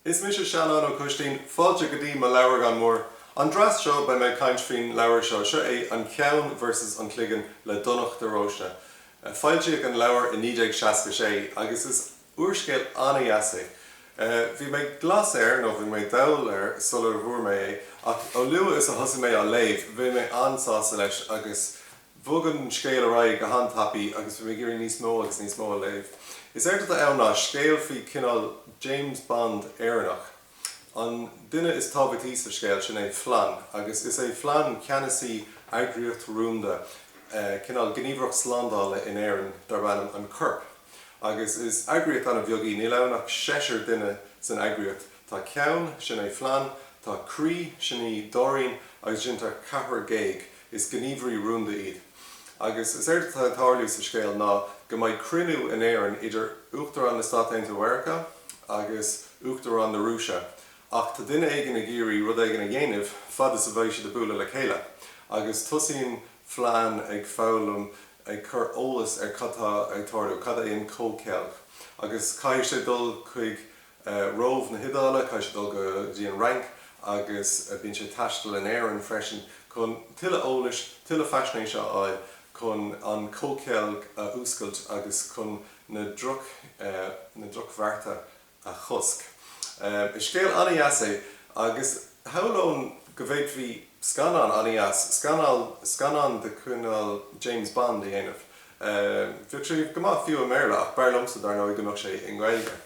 Is mise Seanán Ó Coistín. Fáilte go dtí mo leabhragán mór. An dreas seo beidh mé ag caint faoin leabhar seo. Seo é An Ceann versus an Cloigeann le Donach de Róiste. Foilsíodh an leabhar i 1966 agus is úrscéal an-dheas é. Bhí mé glas air, nó bhí mé dall air sula bhfuair mé é, ach ó luath is a thosaigh mé á léamh bhí mé an-sásta leis agus. Bogann scéal ar aghaidh go han-tapaidh agus bhí mé ag iarraidh níos mó agus níos mó a léamh. Is éard atá ann ná scéal faoi cineál James Bond Éireannach. An duine is tábhachtaí sa scéal, sin é Flann, agus is é Flann ceannasaí eagraíocht rúnda, cineál gníomhaireacht slándála in Éirinn darb ainm an Corp. Agus is eagraíocht an-bheag í, níl ann ach seisear duine san eagraíocht. Tá ceann, sin é Flann, tá croí, sin í Dóirín, agus ansin tá ceathrar géag, Is gníomhairí rúnda iad. Agus is éard atá ag tarlú sa scéal ná go mbeidh cruinniú in Éirinn idir Uachtarán na Stát Aontaithe Mheiriceá agus Uachtarán na Rúise ach tá duine éigin ag iarraidh rud éigin a dhéanamh fad is a bheidh siad ag bualadh le chéile. Agus tosaíonn Flann ag foghlaim, ag cur eolas ar cad tá ag tarlú, cad é an comhcheilg. Agus caithfidh sé dul chuig. Róimh na hIodáile, caithfidh sé dul go dtí an Fhrainc agus bíonn sé ag taisteal in Éirinn freisin. Chun tuilleadh eolais, tuilleadh faisnéise a fháil, chun an comhcheilg a fhuascailt agus chun na drochbhearta a chosc. Is scéal an-deas é agus shamhlóinn go bhféadfaí scannán an-deas, scannán de chineál James Bond a dhéanamh. Bheadh sé go maith fiú i mBéarla ach b'fhearr liomsa dar ndóigh go mbeadh sé i nGaeilge.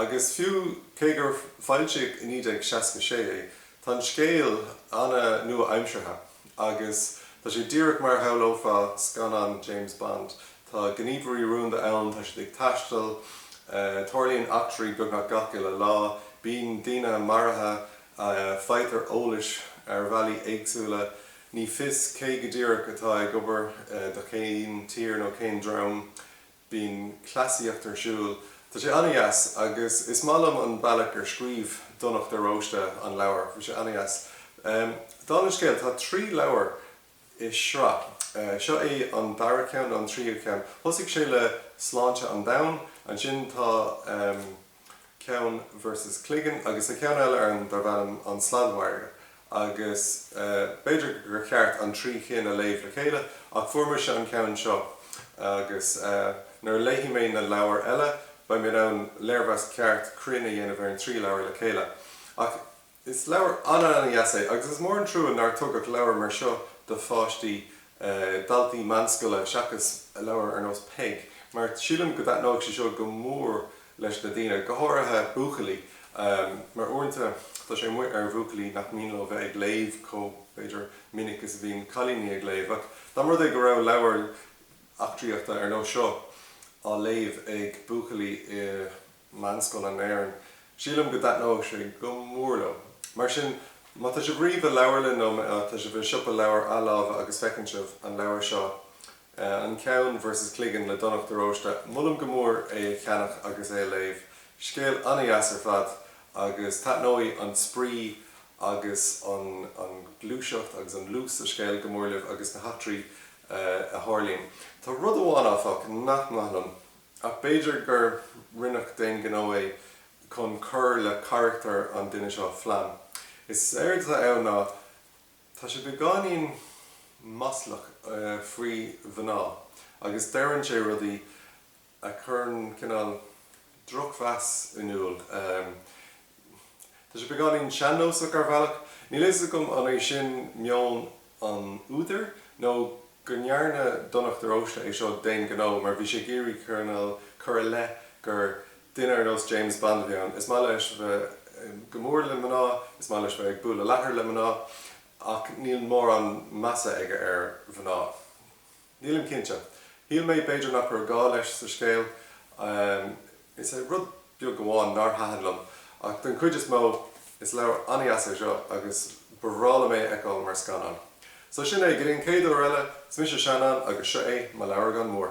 Agus fiú cé gur foilsíodh i 1966 é, tá an scéal an-nua-aimseartha agus tá sé díreach mar a shamhlófá scannán James Bond. Tá gníomhairí rúnda ann, tá siad ag taisteal, tarlaíonn eachtraí beagnach gach uile lá, bíonn daoine maraithe, faightear eolas ar bhealaí éagsúla. Ní fios cé go díreach atá ag obair do cén tír nó cén dream. Bíonn cleasaíocht ar siúl. Tá sé an-deas agus is maith liom an bealach ar scríobh Donach de Róiste an leabhar. Bhí sé an-deas. Dála an scéil, tá trí leabhar i sraith. Seo é an dara ceann nó an tríú ceann. Thosaigh sé le Sláinte an Domhain, ansin tá. ceann versus Cloigeann agus an ceann eile ann darb ainm An Sladmhargadh agus b'fhéidir gur cheart an trí chinn a léamh le chéile ach fuair mise an ceann seo agus nuair a léifidh mé na leabhair eile beidh mé in ann léirmheas ceart cruinn a dhéanamh ar an trí leabhar le chéile ach Is leabhar an-an-dheas é agus is mór an trua nár tugadh leabhar mar seo do pháistí, daltaí meánscoile seachas leabhar ar nós Peig mar sílim go dtaitneodh sé seo go mór leis na daoine, go háirithe buachaillí mar uaireanta tá sé amuigh ar bhuachaillí nach mian leo bheith ag léamh chomh, b'fhéidir, minic is a bhíonn cailíní ag léamh. Ach dá mba rud é go raibh leabhar eachtraíochta ar nós seo á léamh ag buachaillí i. meánscoil in Éirinn. Sílim go dtaitneodh sé go mór leo. Mar sin, má tá sibh riamh i leabharlann nó má tá sibh i siopa leabhar athláimhe agus feiceann sibh an leabhar seo An Ceann versus Cloigeann le Donncha de Róiste, molaim go mór é a cheannach agus é a léamh. Scéal an-dheas ar fad agus taitneoidh an spraoi agus an ghluaiseacht agus an luas sa scéal go mór libh agus na heachtraí a tharlaíonn. Tá rud amháin, áfach, nach maith liom. Ach b'fhéidir gur rinneadh d'aon ghnó é chun cur le carachtar an duine seo, Flann. Is éard atá ann ná tá sé beagáinín maslach faoi mhná agus deireann sé rudaí a chuireann cineál drochmheas in iúl. Tá sé beagáinín sean-nósach ar bhealach. Níl a fhios agam an é sin meon an údair nó go ndearna Donncha de Róiste é seo d'aon ghnó mar bhí sé ag iarraidh cineál cur i leith gur duine ar nós James Bond a bhí ann. Is maith leis bheith go mór le mná, is maith leis bheith ag bualadh leathair le mná ach níl mórán measa aige ar mhná. Nílim cinnte. Shíl mé b'fhéidir nach raibh gá leis sa scéal. Is é rud beag amháin nár thaitin liom, ach den chuid is mó, is leabhar an-dheas é seo agus ba bhreá liom é a fheiceáil mar scannán. So sin é, go dtí an chéad uair eile, is mise Seanán agus seo é mo leabhragán mór.